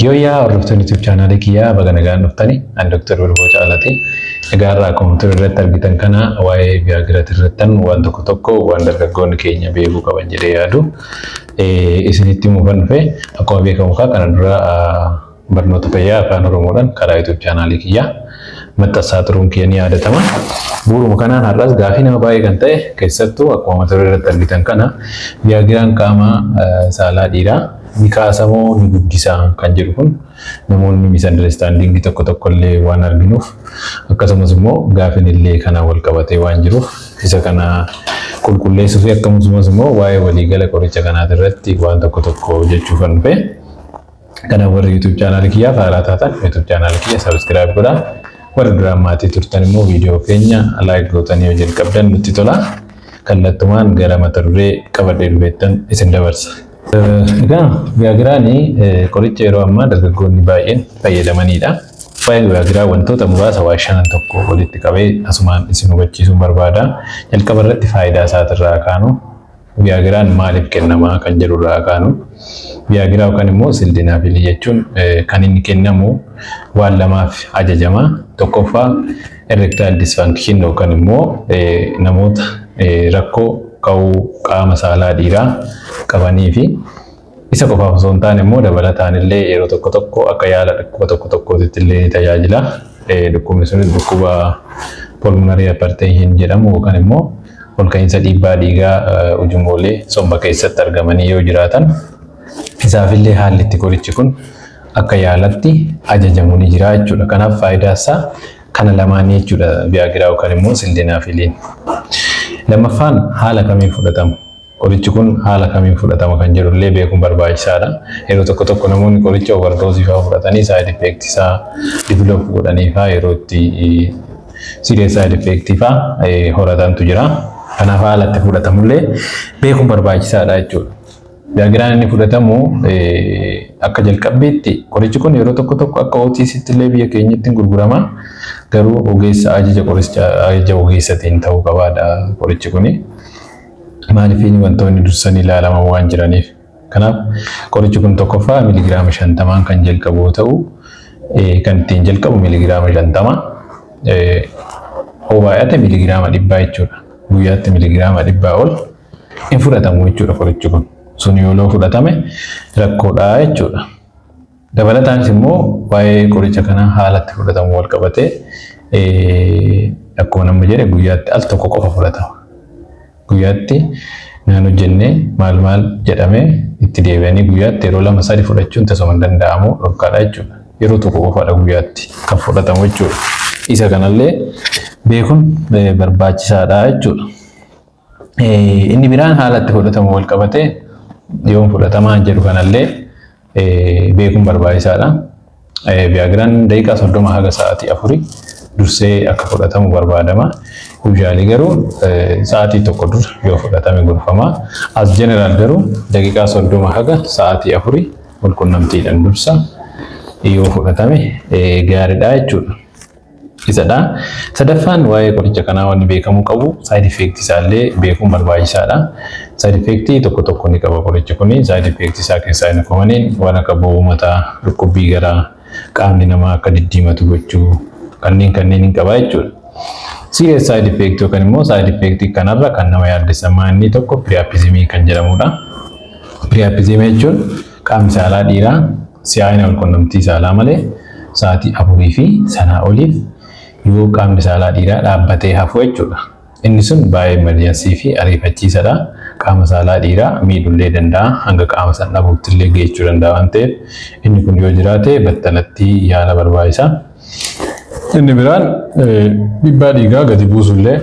Yooyyaa hordoftoonni YouTube chaanaalii kiyyaa baga nagaan dhuftani. Ani Dr. Bulboo Caalati. Egaa har'a akkuma ture irratti argitan kana waa'ee biyaagiraatii irrattan waan tokko tokko waan dargaggoonni keenya beekuu qaban jedhee yaadu isinitti himuufan dhufe. Akkuma beekamu kaa kana dura Barnoota fayyaa Afaan Oromoodhaan karaa YouTube chaanaalii kiyyaa maxxassaa turuun kiyya ni yaadatama. Bu'uruma kanaan har'as gaafii nama baay'ee kan ta'e keessattuu akkuma mata duree irratti argitan kana viyaagiraan qaama saalaa dhiiraa ni kaasa moo ni guddisa kan jedhu kun namoonni misunderstanding tokko tokko illee waan arginuuf akkasumas immoo gaafin illee kana wal qabatee waan jiruuf isa kana qulqulleessuu fi akkasumas immoo waa'ee waliigala qoricha kanaa irratti waan tokko tokko jechuu kan dhufe. Kana warri YouTube chaanaal kiyyaa faaraa taatan YouTube chaanaal kiyya subscribe godha. Warri duraan maatii turtan immoo viidiyoo keenya like gootanii yoo jalqabdan nutti tola. Kallattumaan gara mata duree qabadhee dhufeettan isin dabarsa. Egaa gaagiraani qoricha yeroo ammaa dargaggoonni baay'een fayyadamanidha. Faayil gaagiraa wantoota muraasa waa shanan tokko walitti qabee asumaan isin hubachiisuun barbaada. Jalqaba irratti faayidaa isaatirraa kaanu Viyaagiraan maaliif kennama kan jedhu irraa kaanu Viyaagiraa yookaan immoo Sildenaafiilii jechuun kan inni kennamu waan lamaaf ajajama. Tokkoffaa erectile dysfunction yookaan immoo namoota rakkoo ka'uu qaama saalaa dhiiraa qabanii fi Isa qofaaf osoo hin taane immoo dabalataan illee yeroo tokko tokko akka yaala dhukkuba tokko tokkootitti illee ni tajaajila. Dhukkubni sunis dhukkuba pulmonary hypertension jedhamu yookaan immoo ol ka'iinsa dhiibbaa dhiigaa ujummoolee somba keessatti argamanii yoo jiraatan isaaf illee haalli itti qorichi kun akka yaalatti ajajamu ni jira jechuudha. Kanaaf faayidaa isaa kana lamaanii jechuudha biyaagiraa yookaan immoo sildenaafiiliin. Lammaffaan haala kamiin fudhatama? Qorichi kun haala kamiin fudhatama kan jedhu illee beekuun barbaachisaa dha. Yeroo tokko tokko namoonni qoricha overdose faa fudhatanii side effect isaa develop godhanii faa yeroo itti serious side effect faa horatantu jira. Kanaaf haala itti fudhatamu illee beekuun barbaachisaa dha jechuudha. Daagiraan inni fudhatamu akka jalqabbiitti qorichi kun yeroo tokko tokko akka OTCtti illee biyya keenyatti gurgurama. Garuu ogeessa ajaja qoricha ajaja ogeessatiin ta'uu qabaadha qorichi kuni. Maalifiin wantoonni dursanii ilaalaman waan jiraniif. Kanaaf qorichi kun tokkoffaa miligiraama shantamaan kan jalqabu yoo ta'u kan ittiin jalqabu miligiraama shantama yoo baay'ate miligiraama dhibbaa jechuudha. Guyyaatti miligiraama dhibbaa ol hin fudhatamu jechuudha qorichi kun. Sun yoo loo fudhatame rakkoodhaa jechuudha. Dabalataanis immoo waa'ee qoricha kanaa haala itti fudhatamu wal qabatee akkuma namni jedhe guyyaatti al tokko qofa fudhatama. Guyyaatti naan hojjennee maal maal jedhamee itti deebi'anii guyyaatti yeroo lama sadi fudhachuun tasuma hin danda'amu dhorkaadha jechuudha. Yeroo tokko qofaadha guyyaatti kan fudhatamu jechuudha. Isa kanallee beekuun barbaachisaadha jechuudha. Inni biraan haala itti fudhatamu wal qabatee yoom fudhatamaa jedhu kanallee beekuun barbaachisaadha. Viyaagiraan daqiiqaa soddoma haga sa'aatii afurii dursee akka fudhatamu barbaadama. Yuuzhaalii garuu sa'aatii tokko dura yoo fudhatame gorfama. As jeneraal garuu daqiiqaa soddoma haga sa'aatii afurii walqunnamtiidhaan dursa yoo fudhatame gaariidha jechuudha. isadha. Sadaffaan waa'ee qoricha kanaa wanni beekamuu qabu side effect isaallee beekuun barbaachisaadha. Side effect tokko tokko ni qaba qorichi kun. Side effect isaa keessaa inni komaneen waan akka boo'uu mataa, dhukkubbii garaa, qaamni namaa akka diddiimatu gochuu kanneen kanneen hin qabaa jechuudha. Serious side effect yookaan immoo side effect kanarra kan nama yaaddessa maanni tokko priapism kan jedhamudha. Priapism jechuun Qaamni saalaa dhiiraa si'aayina walqunnamtii saalaa malee sa'aatii afurii fi sanaa oliif yoo qaamni saalaa dhiiraa dhaabbatee hafu jechuudha. Inni sun baay'ee emerjensii fi ariifachiisadha. Qaama saalaa dhiiraa miidhullee danda'a, hanga qaama san dhabuuttillee geechuu danda'a waan ta'eef inni kun yoo jiraate battalatti yaala barbaachisa. Inni biraan dhibbaa dhiigaa gadi buusullee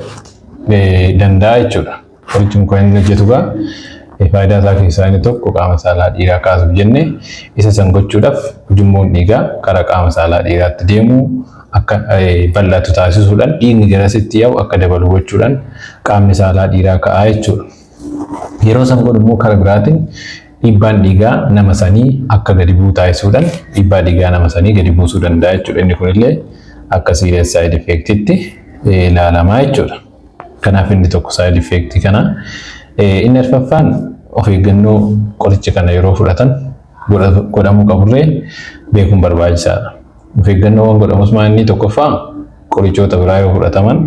danda'a jechuudha. Qorichi mukaa inni hojjetu egaa faayidaa isaa keessaa inni tokko qaama saalaa dhiiraa kaasuuf jenne isa san gochuudhaaf ujummoon dhiigaa karaa qaama saalaa dhiiraatti deemu akka bal'atu taasisuudhaan dhiigni garasitti yaa'u akka dabalu gochuudhaan qaamni saalaa dhiiraa ka'aa jechuudha. Yeroo san godhu immoo karaa biraatiin dhiibbaan dhiigaa nama sanii akka gadi bu'u taasisuudhaan dhiibbaa dhiigaa nama sanii gadi buusuu danda'a jechuudha. Inni kunillee akka siiriyaas saayid effeektitti ilaalamaa jechuudha. Kanaaf inni tokko side effect kana. Inni arfaffaan of eeggannoo qoricha kana yeroo fudhatan godhamuu qaburree beekuun barbaachisaadha. Of eeggannoowwan godhamus maa inni tokkoffaa qorichoota biraa yoo fudhataman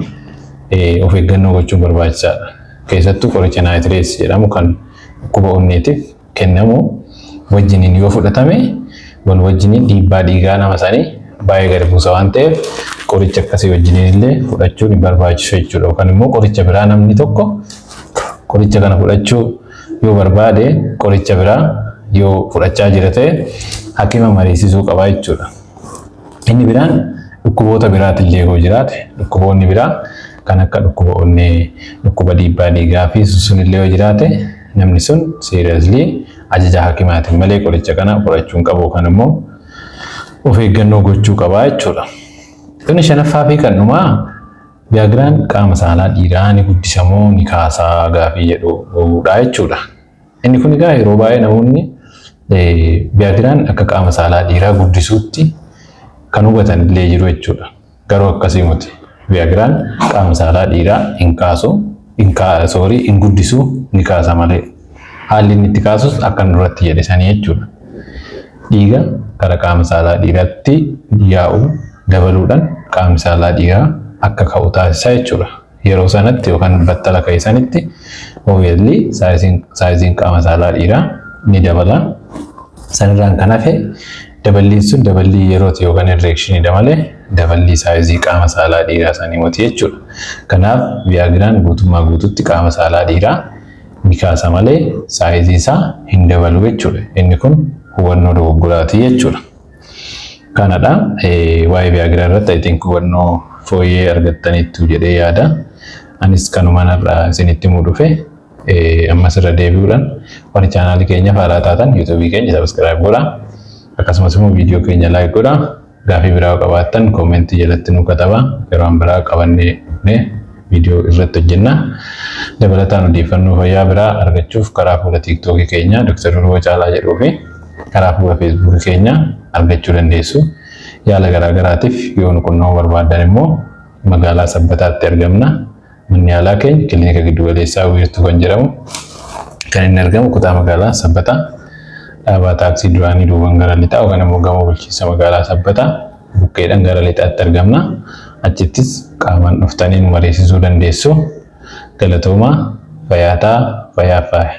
of eeggannoo gochuun barbaachisaadha. Keessattuu qoricha naayitirees jedhamu kan dhukkuba onneetiif kennamu wajjiniin yoo fudhatame wal wajjiniin dhiibbaa dhiigaa nama sanii baay'ee gadi buusa waan ta'eef qoricha akkasii wajjiniin illee fudhachuun hin barbaachisu jechuudha. Yookaan immoo qoricha biraa namni tokko qoricha kana fudhachuu yoo barbaade qoricha biraa yoo fudhachaa jira ta'e hakima mariisisuu qaba jechuudha. Inni biraan dhukkuboota biraatillee yoo jiraate dhukkuboonni biraa kan akka dhukkuba onnee, dhukkuba dhiibbaa dhiigaa fi sunillee yoo jiraate namni sun seriously ajaja hakimaatiin malee qoricha kana fudhachuu hin qabu yookaan immoo of eeggannoo gochuu qaba jechuudha. Inni shanaffaa fi kan dhumaa Viagiraan qaama saalaa dhiiraa ni guddisa moo ni kaasaa gaafii jedhudha jechuudha. Inni kun egaa yeroo baay'ee namoonni Viyaagiraan akka qaama saalaa dhiiraa guddisuutti kan hubatan illee jiru jechuudha. Garuu akkasii miti. Viyaagiraan qaama saalaa dhiiraa hin kaasu, soorii hin guddisu ni kaasa malee. Haalli inni itti kaasus akkan duratti jedhe sanii jechuudha. Dhiiga gara qaama saalaa dhiiraatti yaa'u dabaluudhaan qaamni saalaa dhiiraa akka ka'u taasisa jechuudha. Yeroo sanatti yookaan battala ka'e sanitti obviously saayiziin qaama saalaa dhiiraa ni dabala. Sanirraan kan hafe daballiin sun daballii yerooti yookaan irreekshiniidha malee daballii saayizii qaama saalaa dhiiraa sanii moti jechuudha. Kanaaf viyaagiraan guutummaa guututti qaama saalaa dhiiraa ni kaasa malee saayizii isaa hin dabalu jechuudha. Inni kun hubannoo dogoggoraati jechuudha. Kanadha. Waa'ee Viagra irratti I think hubannoo fooyyee argattaniittu jedhee yaada. Anis kanumaan har'a isinitti himuu dhufe. Ammas irra deebi'uudhaan warri chaanaalii keenyaaf haaraa taatan yuutuubii keenya sabiskiraayib godhaa. Akkasumas immoo viidiyoo keenya laayik godhaa. Gaafii biraa qabaattan koomentii jalatti nuu katabaa. Yeroo biraa qabannee viidiyoo irratti hojjenna. Dabalataan odeeffannoo fayyaa biraa argachuuf karaa fuula tiiktookii keenyaa Dr. Durba Caalaa jedhuu fi karaa fuula feesbuukii keenyaa argachuu dandeessu. Yaala garaagaraatiif yoo nu qunnamuu barbaaddan immoo magaalaa Sabbataatti argamna. Manni yaalaa keenya kilinika giddugaleessaa wiirtuu kan jedhamu kan inni argamu kutaa magaalaa Sabbataa dhaabaa taaksii duraanii duuban gara lixaa yookaan immoo gamoo bulchiinsa magaalaa Sabbataa bukkeedhaan gara lixaatti argamna. Achittis qaamaan dhuftanii nu mariisisuu dandeessu. Galatoomaa, fayaa taa, fayaa faayi.